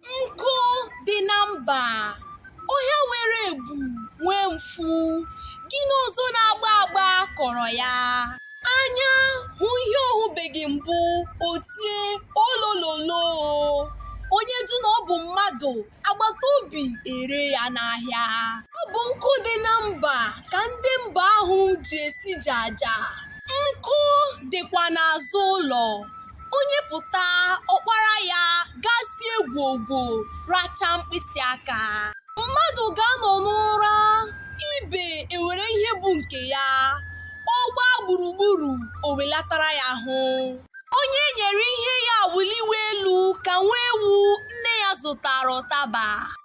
Nkụ dị na mba, ọhịa nwere ebu nwee mfu, gịnị ọzọ na-agba agba kọrọ ya? Anya hụ ihe ọ hụbeghị mbụ, o tie olololo. Onye jụ na ọ bụ mmadụ, agbata obi ere ya n'ahịa. Ọ bụ nkụ dị na mba ka ndị mba ahụ ji esi jaja. Nkụ dịkwa n'azụ ụlọ. onye pụta ọ kpara ya gaa sie gwogwo racha mkpịsị aka mmadụ ga-anọ n'ụra ibe ewere ihe bụ nke ya ọ gbaa gburugburu o welatara ya ahụ onye e nyere ihe ya wụliwe elu ka nwa ewu nne ya zụtara ụtaba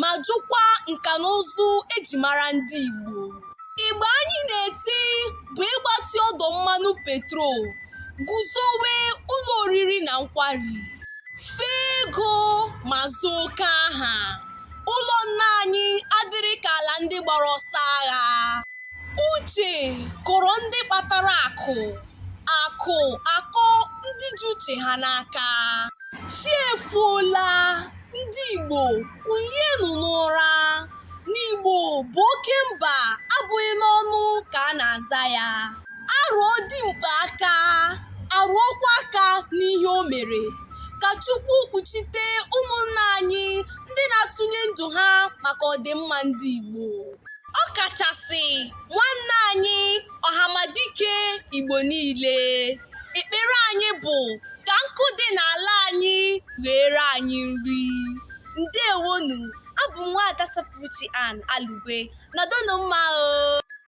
ma jụkwa nka na ụzụ eji mara ndị Igbo. Ịgba anyị na-eti bụ ịgbatị ọdụ mmanụ petrol, guzowe ụlọ oriri na nkwari, fee ego ma zaa oke aha. Ụlọ nna anyị adịrị ka ala ndị gbara ọsọ agha. Uche kọrọ ndị kpatara akụ, akụ akọ ndị ji uche ha n'aka. Chi efoola. Ndị Igbo kulienụ n'ụra na Igbo bụ oke mba abụghị n'ọnụ ka a na-aza ya a rụọ dimkpa aka a rụọkwa aka n'ihe o mere ka Chukwu kpuchite ụmụnna anyị ndị na-atụnye ndụ ha maka ọdịmma ndị Igbo ọ kachasị nwanne anyị ọhamadike Igbo niile ekpere anyị bụ ka nkụ dị n'ala anyị ghere anyị nri ndewonụ abụ m nwaada Sapụrụchi Ann Alugwe nọdụnụ mma o